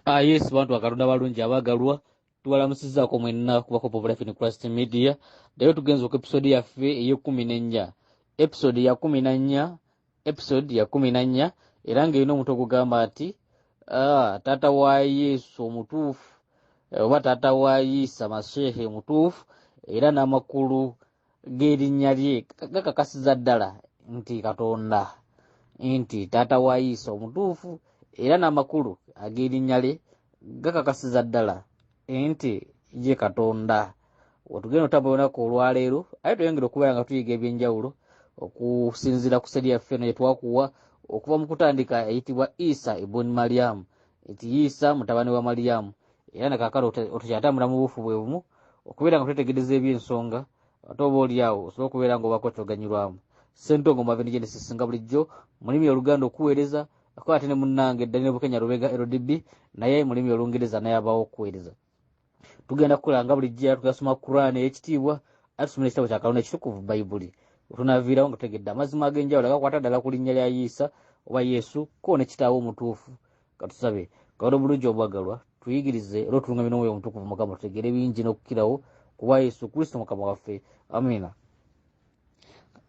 Ah, yes bantu bakatonda balungi abagalwa tubalamusizaako mwenna kuba hope of life in christ media leero tugenza oku episode yaffe eyekumi nenya episode ya kumi nanya episode ya kumi nanya era ngaerina omuntu ogugamba nti ah, taata wa yesu omutuufu eh, oba taata wa yisa mashehe omutuufu era n'amakulu g'erinnya lye gakakasiza ddala nti katonda nti taata wa yiisa omutuufu era n'amakulu ag'erinnya lye gakakasiza ddala nti ye katonda wetugenda otambula olunaku olwaleero aye tweyongere okubeera nga tuyiga ebyenjawulo okusinziira ku seri yaffe eno yetwakuwa okuva mu kutandika eyitibwa isa ibuni mariyamu nti isa mutabani wa mariyamu era nakakala otukyatambula mu buufu bwe bumu okubeera nga twetegereza ebyensonga ate oba oli awo osobola okubeera nga obako kyoganyirwamu sentongo mave ne genesis nga bulijjo mulimi oluganda okuweereza ako ate ne munnange eddali ne bukenya lubega ldb naye mulimi olungereza naye abawo okuweereza tugenda kukola nga bulijjo era tugasoma quran eyekitiibwa atusomera ekitabo kya kalonda ekitukuvu bayibuli otunaviirawo nga tutegedde amazima ag'enjawulo agakwata ddala ku linnya lya yiisa oba yesu ko ne kitaawo omutuufu katusabe kawona obulungi obwagalwa tuyigirize era otulungamye n'omwoyo omutukuvu mukama tutegeere bingi n'okukirawo kuba yesu kristo mukama waffe amina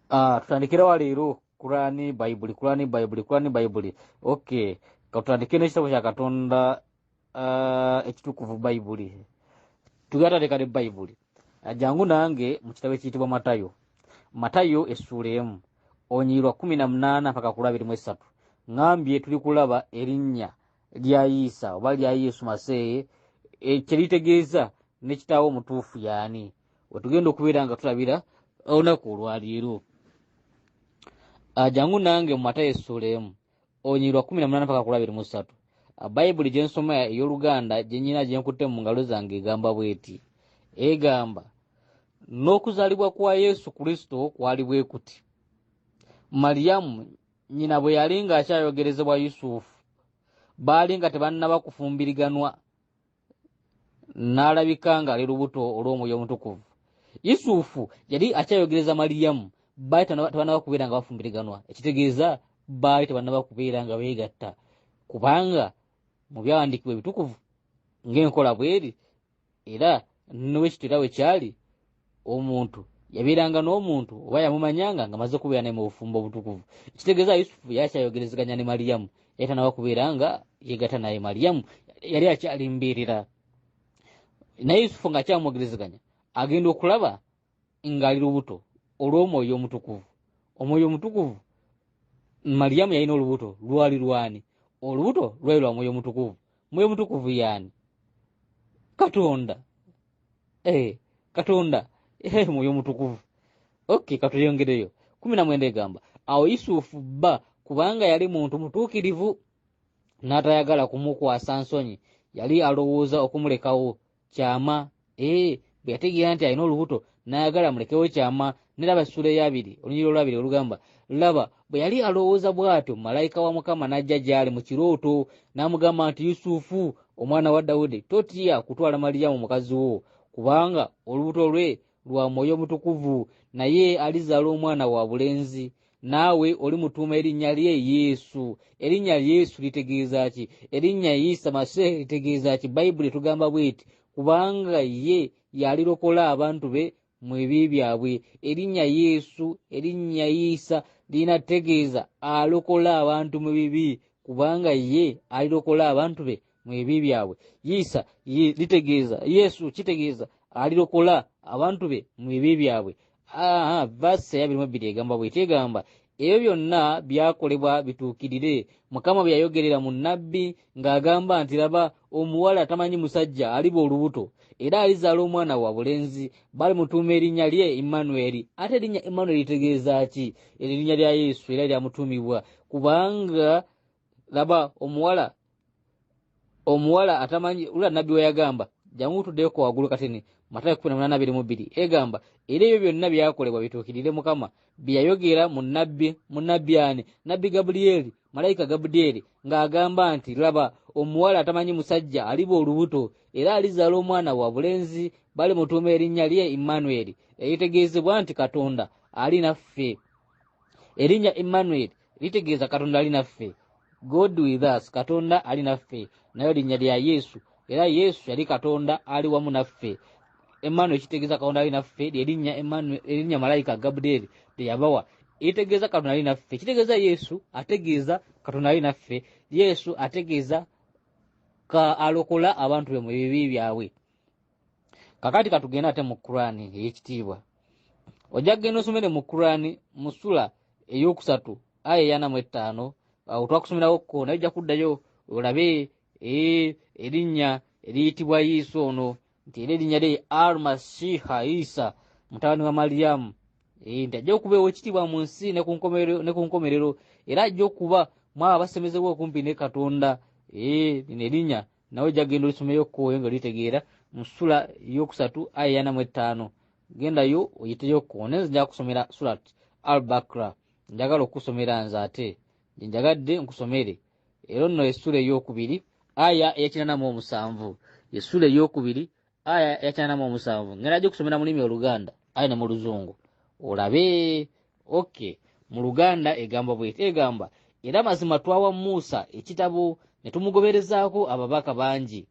ah, tutandikirawa leero kurani bayibuli kurani bayibuli kurani bayibuli ok katutandike n'ekitabo kya katonda ah, ekitukuvu bayibuli tugatandika ne bayibuli jangu nange mu kitabo ekiyitibwa matayo matayo essuula emu onyiirwa kumi na munaana mpaka ku lwabiri mu essatu ŋambye tuli kulaba erinnya lya yiisa oba lya yesu maseeye e, kye litegeeza ne kitaawo omutuufu yaani wetugenda okubeera nga tulabira olunaku olwaleero ajangu nange mu matayo essuula emu olunyiriri lwa kumi na munaana paka kulabiri mu ssatu bayibuli gye nsoma ey'oluganda gye nyina gye nkutte mu ngalo zange egamba bw'eti egamba n'okuzaalibwa kwa yesu kristo kwali bwe kuti maliyamu nyina bwe yali ng'akyayogerezebwa yusufu baali nga tebannaba kufumbiriganwa n'alabika ng'ali lubuto olw'omwoyo omutukuvu yusufu yali akyayogereza maliyamu baali tebanaba kubeera nga bafumbiriganwa ekitegeeza baali tebanaba kubeera nga beegatta kubanga mu byawandiikibwa ebitukuvu ng'enkola bweri era nowekityo era wekyali omuntu yabeeranga n'omuntu oba yamumanyanga nga maze kubeera naye mu bufumbo obutukuvu ekitegeeza yusufu yakyayogerezeganya ne maliyamu yatanawa kubeera nga yegata naye maliyamu yali akyalimbiirira naye yusufu nga akyamwogerezeganya agenda okulaba ng'ali lubuto olw'omwoyo omutukuvu omwoyo omutukuvu maliyamu yalina olubuto lwali lwani olubuto lwali lwa mwoyo omutukuvu mwoyo mutukuvu yaani katonda eh, katonda eh, mwoyo mutukuvu ok katuyongereyo kumi na mwenda egamba awo yusufu bba kubanga yali muntu mutuukirivu n'atayagala kumukwasa nsonyi yali alowooza okumulekawo kyama ee eh, bwe yategeera nti alina olubuto n'ayagala mulekewo kyama neraba essula eyabiri olunyiri olwabiri olugamba laba bwe yali alowooza bw'atyo malayika wa mukama n'ajja gy'ali mu kirooto n'amugamba nti yusufu omwana wa dawudi totya kutwala maliyamu mukazi wo kubanga olubuto lwe lwa mwoyo omutukuvu naye alizaala omwana wa bulenzi naawe oli mutuuma erinnya lye yesu erinnya yesu litegeeza ki erinnya isa maseeh litegeeza ki bayibuli etugamba bweti kubanga ye yalirokola abantu be mu ebi byabwe erinnya yesu erinnya isa lirina tegeeza alokola abantu mu bibi kubanga ye alirokola abantu be mu ebi byabwe yiisa litegeeza yesu kitegeeza alirokola abantu be mu ebi byabwe vasi eyabirimu ebbiri egamba bweti egamba ebyo byonna byakolebwa bituukirire mukama bwe yayogerera mu nabbi ng'agamba nti laba omuwala atamanyi musajja aliba olubuto era alizaala omwana wa bulenzi bali mutuuma erinnya lye emmanueri ate erinnya emmanueri litegeeza ki erinnya lya yesu era lyamutuumibwa kubanga laba omuwala omuwala atamanyi ula nabbi weyagamba jangu tudeko wagulu katini matayo kumi na munana abiri mu bbiri egamba era ebyo byonna byakolebwa bituukirire mukama byeyayogera mu nabbi mu nabbi ani nabbi gabuliyeeri malayika gabudiyeeri ng'agamba nti laba omuwala atamanyi musajja aliba olubuto era alizaala omwana wa bulenzi bali mutuuma erinnya lye immanueri eritegeezebwa nti katonda ali naffe erinnya immanueri litegeeza katonda ali naffe god with us katonda ali naffe nayo linnya lya yesu era yesu yali katonda ali wamu naffe emmanuel kitegeeza katonda ali naffe lyerinnya erinnya malayika gabudeeri teyabawa eritegeeza katonda ali naffe kitegeeza yesu ategeeza katonda ali naffe yesu ategeeza ka alokola abantu be mu bibi byabwe kakati katugenda ate mu kurani eyekitiibwa ojja kugenda osomere mu kurani mu sula eyokusatu aya eyana mu ettaano awo twakusomerawo ko naye ojja kuddayo olabe eh, erinnya eriyitibwa yiisa ono nti era erinnya lye al masiha isa mutabani wa mariyamu eh, nti ajja okuba ewekitiibwa mu nsi ne ku nkomerero era ajja okuba mwabo abasemezebwa okumpi ne katonda eh, lino erinnya nawe ojja kugenda olisomeyo kkowe nga litegeera mu sula yokusatu aya yanamu ettaano gendayo oyiteyo kkowe naye nze njaga kusomera sulat al bakra njagala okukusomera nze ate gyenjagadde nkusomere era nno esula eyokubiri aya eyakinanamu omusanvu esula eyokubiri aya yakyanamu omusanvu ngenda gikusomera mulimi oluganda aye ne mu luzungu olabe ok mu luganda egamba bweti egamba era mazima twawa muusa ekitabo ne tumugoberezaako ababaka bangi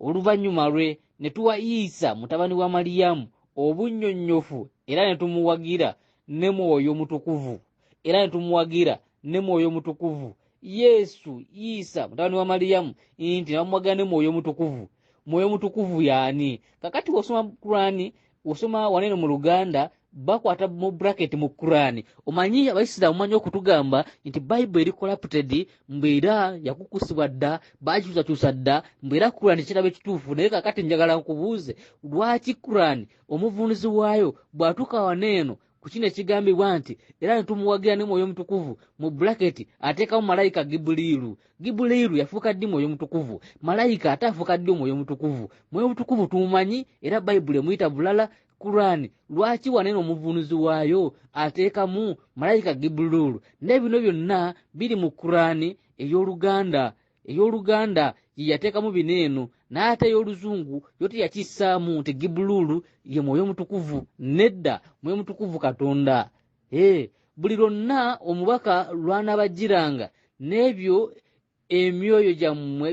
oluvannyuma lwe ne tuwa isa mutabani wa maliyamu obunnyonnyofu era ne tumuwagira ne mwoyo mutukuvu era ne tumuwagira ne mwoyo mutukuvu yesu isa mutabani wa maliyamu nti nabamuwagira ne mwoyo mutukuvu mwoyo mutukuvu yaani kakati wosoma kurani wosoma wanene mu luganda bakwata mu bracket mu kurani omanyi abaisiramu manyi okutugamba nti bible eri corrupted mbeera yakukusibwa dda bakyusakyusa dda mbeera kurani kirabo ekituufu naye kakati njagala nkubuuze lwaki kurani omuvunuzi waayo bw'atuuka wano eno ku kino ekigambibwa nti era ne tumuwagira ne mwoyo mutukuvu mu bulaketi ateekamu malayika gibuliiru gibuliiru yafuuka ddi mwoyo mutukuvu malayika ate afuuka ddi omwoyo mutukuvu mwoyo mutukuvu tumumanyi era bayibuli emuyita bulala kuraani lwaki wanene omuvunuzi waayo ateekamu malayika gibuliiru naye bino byonna biri mu kuraani ey'oluganda ey'oluganda ye yateekamu bino eno naye ate ey'oluzungu yo teyakissaamu nti gibuluulu ye mwoyo omutukuvu nedda mwoyo mutukuvu katonda ee buli lwonna omubaka lw'anaabajjiranga n'ebyo emyoyo gyammwe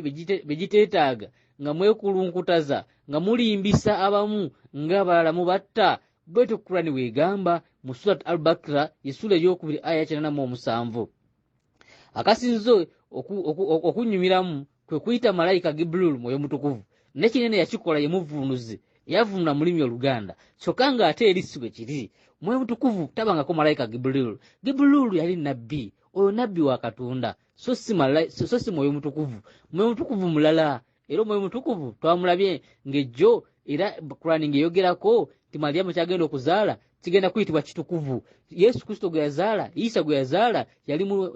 bye giteetaaga nga mwekulunkutaza nga mulimbisa abamu ng'abalala mubatta bwetyo kurani weegamba mu surat al bakira ye sula ey'okubiri aya kinana mu omusanvu akasinze okunnyumiramu kwe kuyita malayika gibrul mwoyo mutukuvu ne kinene yakikola ye muvvuunuzi yavunula mulimi oluganda kyokka ng'ate eri si bwe kiri mwoyo mutukuvu tabangako malayika gibrul gibrul yali nabbi oyo nabbi wa katonda so si mwoyo mutukuvu mwoyo mutukuvu mulala era omwoyo mutukuvu twamulabye ng'ejjo era kurani ng'eyogerako nti maliyamu kyagenda okuzaala kigenda kuyitibwa kitukuvu yesu kristo gwe yazaala isa gwe yazaala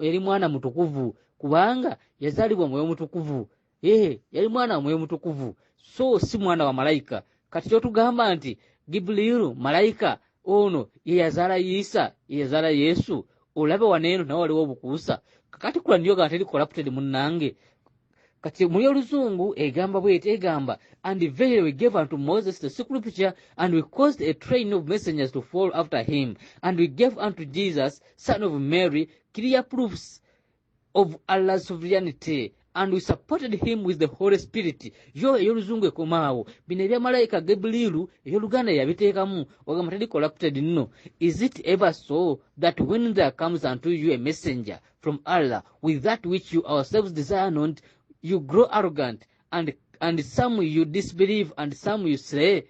yali mwana mutukuvu kubanga yazaalibwa omwoyo mutukuvu ee yali mwana omwoyo mutukuvu so si mwana wa malayika kati kyotugamba nti gibuliiru malayika ono ye yazaala isa ye yazaala yesu olaba waneeno nawe waliwo obukuusa kakati kulaniyoga nti eri corrupted munnange kati mu y'oluzungu egamba bweti egamba and verily we gave unto moses the scripture and we caused a train of messengers to fall after him and we gave unto jesus son of mary clear proofs of allah's sovereignty and we supported him with the holy spirit yo ey'oluzungu ekomaawo bino ebya malayika gebuliilu ey'oluganda yabiteekamu wagamba tali corrupted nno is it ever so that when there comes unto you a messenger from Allah with that which you ourselves desire not, you grow arrogant and and some you disbelieve and some you slay.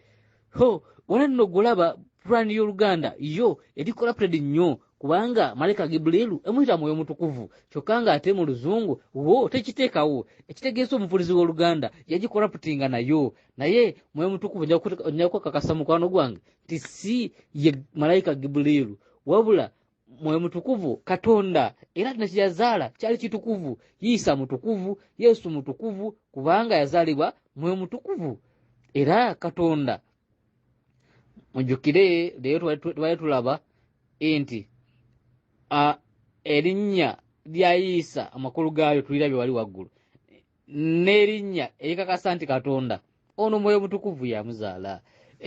Ho, wala no gulaba plan yo Uganda yo edi corrupted nyo kubanga malaika Gibrilu emuita moyo mutukuvu chokanga ate mu luzungu wo tekiteka wo ekitegeso mufulizi wo Uganda yaji corrupting na yo naye moyo mutukuvu nyakuta nyakwa kakasa mukwano gwange tisi ye malaika Gibrilu wabula mwoyo mutukuvu katonda era kino kyeyazaala kyali kitukuvu yiisa mutukuvu yesu mutukuvu kubanga yazaalibwa mwoyo mutukuvu era katonda mujjukire leero twali tulaba nti erinnya lya yiisa amakulu gaayo tulirabye wali waggulu n'erinnya erikakasa nti katonda ono mwoyo mutukuvu yamuzaala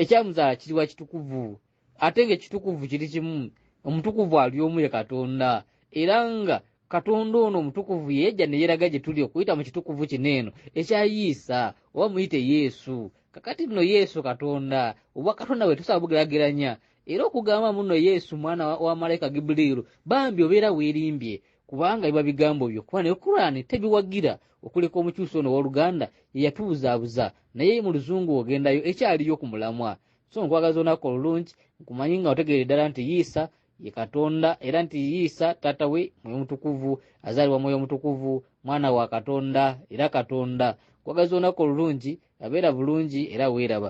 ekyamuzaala kiriwa kitukuvu ate ng'ekitukuvu kiri kimu omutukuvu ali omu ye katonda era nga katonda ono omutukuvu yeyajja neyeraga gye tuli okuyita mu kitukuvu kino eno ekyayiisa oba muyite yesu kakati nno yesu katonda obwa katonda bwe tusobola bugerageranya era okugamba muno yesu mwana wa malayika gibuliiru bambi obeera weerimbye kubanga biba bigambo byo kuba naye kuraani tebiwagira okuleka omukyusi ono ow'oluganda yeyatubuzaabuza naye mu luzungu ogendayo ekyaliyo ku mulamwa so nkwagaza olunaku olulungi nkumanyi nga otegeere ddala nti yiisa ye katonda era nti yiisa taata we mwoyo mutukuvu azaalibwa mwoyo mutukuvu mwana wa katonda era katonda nkwagaza olunaku olulungi abeera bulungi era weeraba